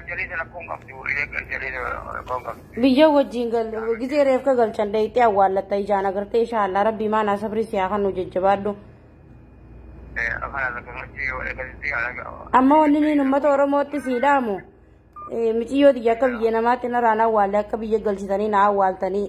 Jaleesa rakkoon qabdu reekan jaleesa rakkoon qabdu. Biyya wajjin gal gizee reefka galchan dayxee awwaallatta ijaan agartee inshaallah rabbii maanaa sabrii siyaa kan nu jajjabaadhu. Afaan akka machii yoo eegalti alaga. Amma wanni niin uummata Oromootti sii dhaamu eh, miciyyoo tiyya akka biyya namaatti naraan awwaalle akka biyya galchitanii na awwaaltanii.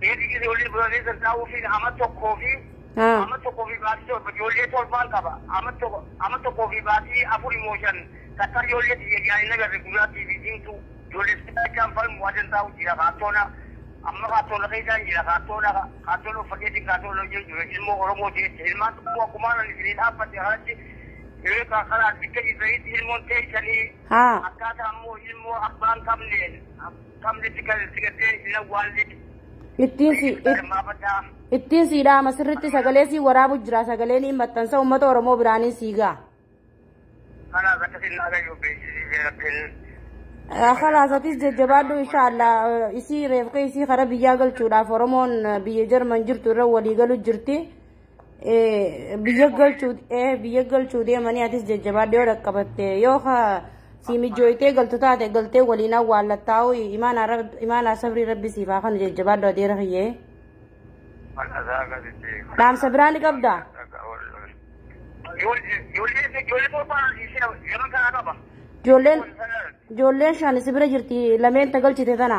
Beeti ijoollee biroolee gargaaruufiin ama tokkoo fi Haa. ama tokkoo fi baatii torba ijoollee torbaan qaba. Ama tokko ama tokkoo fi baatii afur immoo shan takka ijoollee tiyya ijaan hin agarre gurraattii fi diimtuu ijoollee sibiilachaan falmu adan taa'u jira kaartoona. Amma kaartoona keessaan jira kaartoona kaartoona uffateetiin kaartoona hojii jira ilmoo Oromoo jecha ilmaan tokkoo akkumaan ani isinii dhaabbate kanatti yoo karaa bikka jirtanitti ilmoon teessanii Haa. akkaataa immoo ilmoo abbaan qabneen Qabne si gal- si gattee hin awwaalle. Ittiin si Ibsa hirmaafadhaa. ittiin sii dhaama sirritti sagalee sii waraabu jira sagalee niin maxxansa uummata Oromoo biraaniin sii ga'a. Kanaas akkasiin naa gayyuu beeksisiisee rabbiin. Kalaasatis jajjabaadhu inshaallah isii reefka isii kara biyyaa galchuudhaaf Oromoon biyya Jarman jirtu irra walii galu jirti. biyya galchuu biyya galchuu deemanii atis jajjabaadhee yoo dhaqqabatte yoo ka si mijooytee galtu taate galtee waliin awwaallattaa'u imaanaa sabrii rabbi siif haa kanu jajjabaadhu adeera kiyyee dhaamsa biraa ni qabda ijoolleen ijoolleen shan si bira jirti lameen ta galchite tana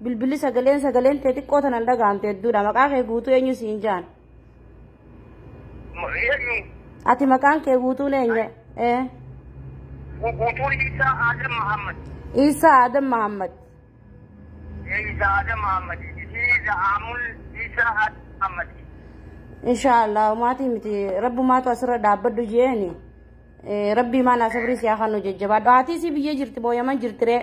Bilbilli sagaleen sagaleen tee xiqqoo tanan dhagahamte hedduudha. Maqaa kee guutuu eenyu siin jaan? Eenyu Ati maqaan kee guutuun eenyu? Ee. guutuun Isaa Adam Muhammad. Iisaa Adam Mahammad. Isaa Adam Muhammad. Isii Za'aamul Isaa Adam Muhammad. Inshaallah maatii miti rabbumaatu asirra dhaabbadhu jeeni. Rabbii maanaa sabrii siyaa kan nu jajjabaadhu. Haatii si biyya jirti booyaman jirtiree.